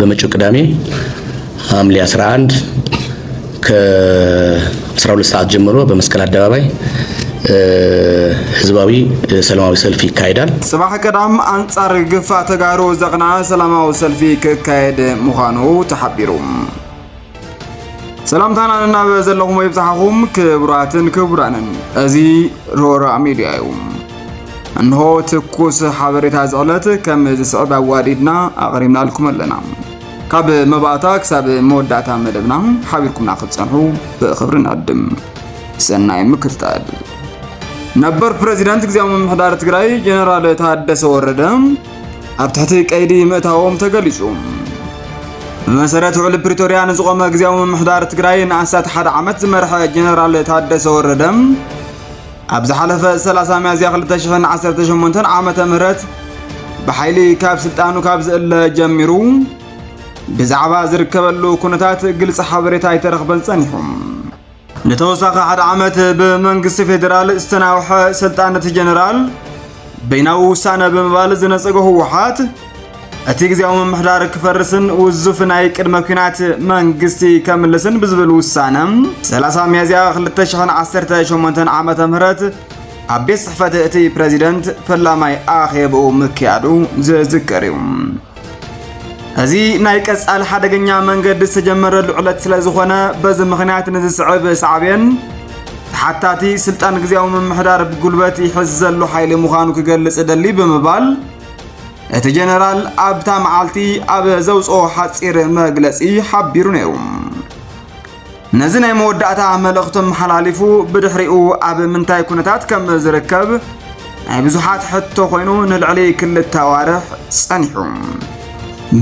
በመጪው ቅዳሜ ሐምሌ 11 ከ12 ሰዓት ጀምሮ በመስቀል አደባባይ ህዝባዊ ሰላማዊ ሰልፍ ይካሄዳል። ጽባሕ ቀዳም ኣንጻር ግፋ ተጋሩ ዘቕንዐ ሰላማዊ ሰልፊ ክካየድ ምዃኑ ተሓቢሩ። ሰላምታና ንናብ ዘለኹም ይብዛሕኹም ክቡራትን ክቡራንን እዚ ሮራ ሚድያ እዩ እንሆ ትኩስ ሓበሬታ ዝዕለት ከም ዝስዕብ ኣዋዲድና ኣቕሪብናልኩም ኣለና ካብ መባእታ ክሳብ መወዳእታ መደብና ሓቢርኩምና ክትጸንሑ ብኽብሪ ንዕድም ሰናይ ምክትታል ነበር ፕሬዚዳንት ግዜያዊ ምምሕዳር ትግራይ ጀነራል ታደሰ ወረደ ኣብ ትሕቲ ቀይዲ ምእታዎም ተገሊጹ። ብመሰረት ውዕሊ ፕሪቶርያ ንዝቖመ ግዜያዊ ምምሕዳር ትግራይ ንኣስታት ሓደ ዓመት ዝመርሐ ጀነራል ታደሰ ወረደ ኣብ ዝሓለፈ 30 ሚያዝያ 2018 ዓመተ ምህረት ብሓይሊ ካብ ስልጣኑ ካብ ዝእለ ጀሚሩ ብዛዕባ ዝርከበሉ ኩነታት ግልፂ ሓበሬታ ኣይተረኽበን ጸኒሑ። ንተወሳኺ ሓደ ዓመት ብመንግስቲ ፌዴራል ዝተናውሐ ስልጣን እቲ ጀነራል በይናዊ ውሳነ ብምባል ዝነጸገ ህወሓት እቲ ግዜያዊ ምምሕዳር ክፈርስን ውዙፍ ናይ ቅድመ ኩናት መንግስቲ ከምልስን ብዝብል ውሳነ 30 ሚያዝያ 2018 ዓ ም ኣብ ቤት ጽሕፈት እቲ ፕረዚደንት ፈላማይ ኣኼብኡ ምክያዱ ዝዝከር እዩ እዚ ናይ ቀጻሊ ሓደገኛ መንገዲ ዝተጀመረሉ ዕለት ስለ ዝኾነ በዚ ምኽንያት ንዝስዕብ ሳዕቤን ተሓታቲ ስልጣን ግዜያዊ ምምሕዳር ብጉልበት ይሕዝ ዘሎ ሓይሊ ምዃኑ ክገልጽ እደሊ ብምባል እቲ ጀነራል ኣብታ መዓልቲ ኣብ ዘውፅኦ ሓፂር መግለፂ ሓቢሩ ነይሩ። ነዚ ናይ መወዳእታ መልእኽቱ ኣመሓላሊፉ ብድሕሪኡ ኣብ ምንታይ ኩነታት ከም ዝርከብ ናይ ብዙሓት ሕቶ ኮይኑ ንልዕሊ ክልተ ኣዋርሕ ጸኒሑ።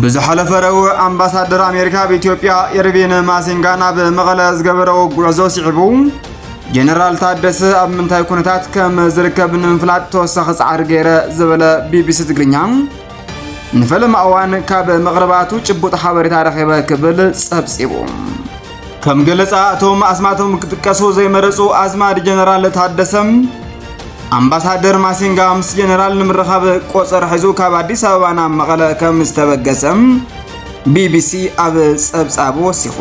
ብዝሓለፈ ረቡዕ ኣምባሳደር ኣሜሪካ ኣብ ኢትዮጵያ ኤርቪን ማሲንጋ ናብ መቐለ ዝገበረዎ ጉዕዞ ስዒቡ ጀነራል ታደሰ ኣብ ምንታይ ኩነታት ከም ዝርከብ ንምፍላጥ ተወሳኺ ጻዕሪ ገይረ ዝበለ ቢቢሲ ትግርኛ ንፈለማ እዋን ካብ መቕርባቱ ጭቡጥ ሓበሬታ ረኺበ ክብል ጸብጺቡ። ከም ገለጻ እቶም ኣስማቶም ክጥቀሱ ዘይመረጹ ኣዝማድ ጀነራል ታደሰም ኣምባሳደር ማሲንጋ ምስ ጀነራል ንምርኻብ ቆፀር ሒዙ ካብ ኣዲስ ኣበባ ናብ መቐለ ከም ዝተበገሰ ቢቢሲ ኣብ ጸብጻቡ ወሲኹ።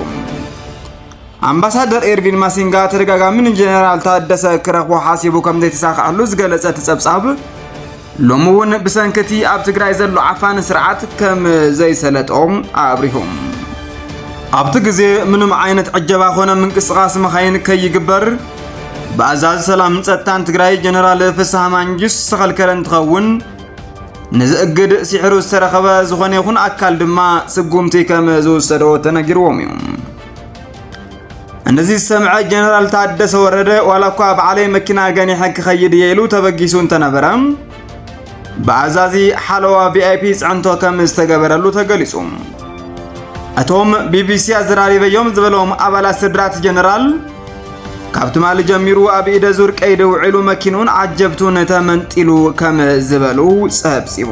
ኣምባሳደር ኤርቪን ማሲንጋ ተደጋጋሚ ንጀነራል ታደሰ ክረኽቦ ሓሲቡ ከም ዘይተሳክዐሉ ዝገለጸ እቲ ጸብጻብ ሎሚ እውን ብሰንኪ እቲ ኣብ ትግራይ ዘሎ ዓፋኒ ስርዓት ከም ዘይሰለጦም ኣብሪሁ። ኣብቲ ግዜ ምንም ዓይነት ዕጀባ ኮነ ምንቅስቓስ መኻይን ከይግበር ብኣዛዚ ሰላምን ጸጥታን ትግራይ ጀነራል ፍስሃ ማንጁስ ዝተኸልከለ እንትኸውን ነዚ እግድ ሲሕሩ ዝተረኸበ ዝኾነ ይኹን ኣካል ድማ ስጉምቲ ከም ዝውሰዶ ተነጊርዎም እዩ። እንደዚ ዝሰምዐ ጀነራል ታደሰ ወረደ ዋላ እኳ በዓለይ መኪና ገኒሐ ክኸይድ እየ ኢሉ ተበጊሱ እንተነበረ ብኣዛዚ ሓለዋ ቪኣይፒ ፅዕንቶ ከም ዝተገበረሉ ተገሊጹ። እቶም ቢቢሲ ኣዘራሪበዮም ዝበሎም ኣባላት ስድራት ጀነራል ካብ ትማሊ ጀሚሩ ኣብ ኢደ ዙር ቀይዲ ውዒሉ መኪኑን ዓጀብቱን ተመንጢሉ ከም ዝበሉ ጸብጺቡ።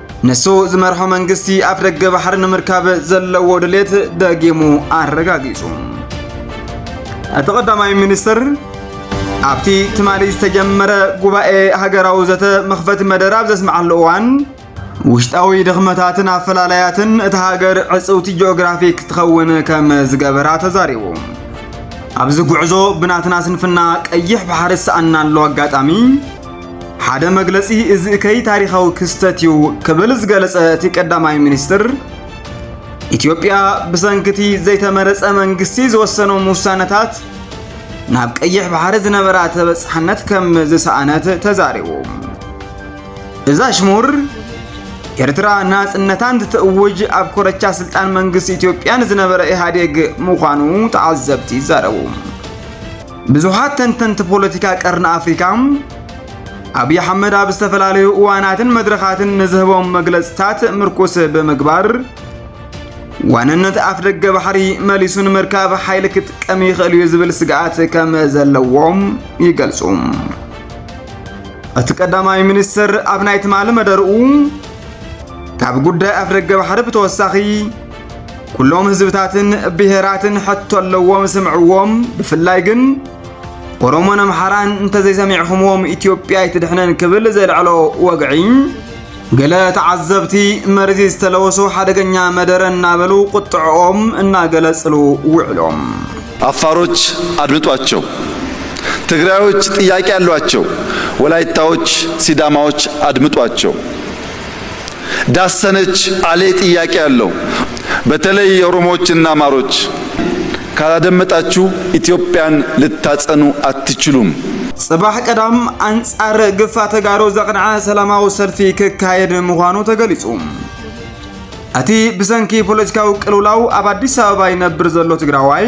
ንሱ ዝመርሖ መንግስቲ ኣፍደገ ባሕሪ ንምርካብ ዘለዎ ድሌት ደጊሙ ኣረጋጊጹ። እቲ ቀዳማይ ሚኒስትር ኣብቲ ትማሊ ዝተጀመረ ጉባኤ ሃገራዊ ዘተ መኽፈቲ መደረ ኣብ ዘስምዓሉ እዋን ውሽጣዊ ድኽመታትን ኣፈላላያትን እታ ሃገር ዕፅውቲ ጂኦግራፊክ ትኸውን ከም ዝገበራ ተዛሪቡ። ኣብዚ ጉዕዞ ብናትና ስንፍና ቀይሕ ባሕሪ ዝሰኣናሉ ኣጋጣሚ ሓደ መግለጺ እዚ እከይ ታሪኻዊ ክስተት እዩ ክብል ዝገለጸ እቲ ቀዳማይ ሚኒስትር ኢትዮጵያ ብሰንክቲ ዘይተመረጸ መንግስቲ ዝወሰኖም ውሳነታት ናብ ቀይሕ ባሕሪ ዝነበራ ተበጻሕነት ከም ዝሰኣነት ተዛሪቡ። እዛ ሽሙር ኤርትራ ናጽነታን ትእውጅ ኣብ ኮረቻ ስልጣን መንግስቲ ኢትዮጵያ ንዝነበረ ኢህኣዴግ ምዃኑ ተዓዘብቲ ይዛረቡ። ብዙሓት ተንተንቲ ፖለቲካ ቀርኒ ኣፍሪካ ኣብዪ ኣሕመድ ኣብ ዝተፈላለዩ እዋናትን መድረኻትን ንዝህቦም መግለፅታት ምርኩስ ብምግባር ዋንነት ኣፍ ደገ ባሕሪ መሊሱ ንምርካብ ሓይሊ ክጥቀም ይኽእል እዩ ዝብል ስግኣት ከም ዘለዎም ይገልጹ። እቲ ቀዳማይ ሚኒስትር ኣብ ናይ ትማሊ መደርኡ ካብ ጉዳይ ኣፍ ደገ ባሕሪ ብተወሳኺ ኩሎም ህዝብታትን ብሄራትን ሕቶ ኣለዎም ስምዕዎም ብፍላይ ግን ኦሮሞን ኣምሓራን እንተዘይሰሚዕኹምዎም ኢትዮጵያ ኣይትድሕነን ክብል ዘልዐሎ ወግዒ ገለ ተዓዘብቲ መርዚ ዝተለወሶ ሓደገኛ መደረ እናበሉ ቁጥዕኦም እናገለጽሉ ውዕሎም። አፋሮች አድምጧቸው፣ ትግራዮች ጥያቄ አሏቸው፣ ወላይታዎች፣ ሲዳማዎች አድምጧቸው። ዳሰነች አሌ ጥያቄ አለው በተለይ የኦሮሞዎች እና አማሮች ካላደመጣቹ ኢትዮጵያን ልታጸኑ አትችሉም። ፅባሕ ቀዳም ኣንፃር ግፋ ተጋሩ ዘቕንዐ ሰላማዊ ሰልፊ ክካየድ ምዃኑ ተገሊፁ። እቲ ብሰንኪ ፖለቲካዊ ቅልውላው ኣብ ኣዲስ ኣበባ ይነብር ዘሎ ትግራዋይ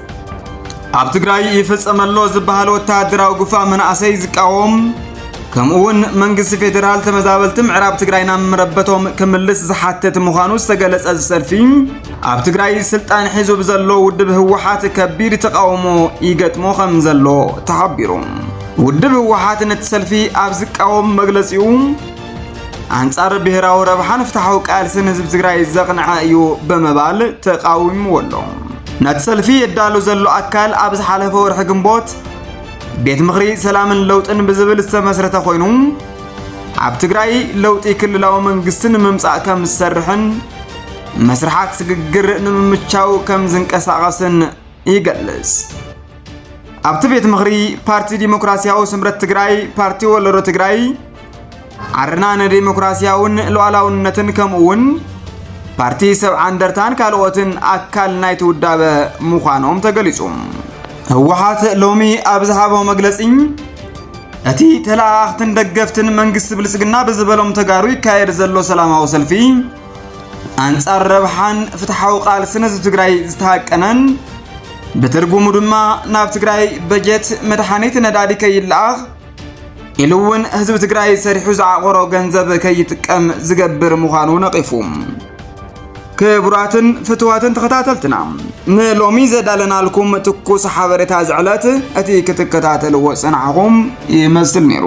ኣብ ትግራይ ይፍጸም ኣሎ ዝበሃል ወተሃደራዊ ግፋ መናእሰይ ዝቃወም ከምኡ እውን መንግስቲ ፌዴራል ተመዛበልቲ ምዕራብ ትግራይ ናብ መረበቶም ክምልስ ዝሓትት ምዃኑ ዝተገለጸ እዚ ሰልፊ ኣብ ትግራይ ስልጣን ሒዙ ብዘሎ ውድብ ህወሓት ከቢድ ተቃውሞ ይገጥሞ ከም ዘሎ ተሓቢሩ። ውድብ ህወሓት ነቲ ሰልፊ ኣብ ዝቃወም መግለጺኡ ኣንጻር ብሔራዊ ረብሓን ፍትሓዊ ቃልስን ህዝቢ ትግራይ ዘቕንዐ እዩ ብምባል ተቃዊምዎ ኣሎ። ነቲ ሰልፊ የዳሉ ዘሎ ኣካል ኣብ ዝሓለፈ ወርሒ ግንቦት ቤት ምኽሪ ሰላምን ለውጥን ብዝብል ዝተመስረተ ኮይኑ ኣብ ትግራይ ለውጢ ክልላዊ መንግስቲ ንምምጻእ ከም ዝሰርሕን መስርሓት ስግግር ንምምቻው ከም ዝንቀሳቐስን ይገልጽ። ኣብቲ ቤት ምኽሪ ፓርቲ ዲሞክራሲያዊ ስምረት ትግራይ፣ ፓርቲ ወለዶ ትግራይ፣ ዓረና ንዴሞክራሲያውን ሉዓላውነትን ከምኡውን ፓርቲ ሰብዓ እንደርታን ካልኦትን ኣካል ናይቲ ውዳበ ምዃኖም ተገሊጹ። ህወሓት ሎሚ ኣብ ዝሃቦ መግለጺ እቲ ተለኣኣኽትን ደገፍትን መንግስቲ ብልጽግና ብዝበሎም ተጋሩ ይካየድ ዘሎ ሰላማዊ ሰልፊ ኣንጻር ረብሓን ፍትሓዊ ቃልስን ህዝቢ ትግራይ ዝተሃቀነን ብትርጉሙ ድማ ናብ ትግራይ በጀት፣ መድሓኒት፣ ነዳዲ ከይለኣኽ ኢሉ እውን ህዝቢ ትግራይ ሰሪሑ ዝዓቆሮ ገንዘብ ከይጥቀም ዝገብር ምዃኑ ነቒፉ። ክቡራትን ፍትዋትን ተኸታተልትና ንሎሚ ዘዳለናልኩም ትኩስ ሓበሬታ ዝዕለት እቲ ክትከታተልዎ ጸናሕኹም ይመስል ነይሩ።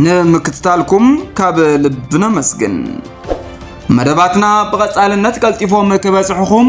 ንምክትታልኩም ካብ ልቢ ነመስግን። መደባትና ብቐጻልነት ቀልጢፎም ክበጽሕኹም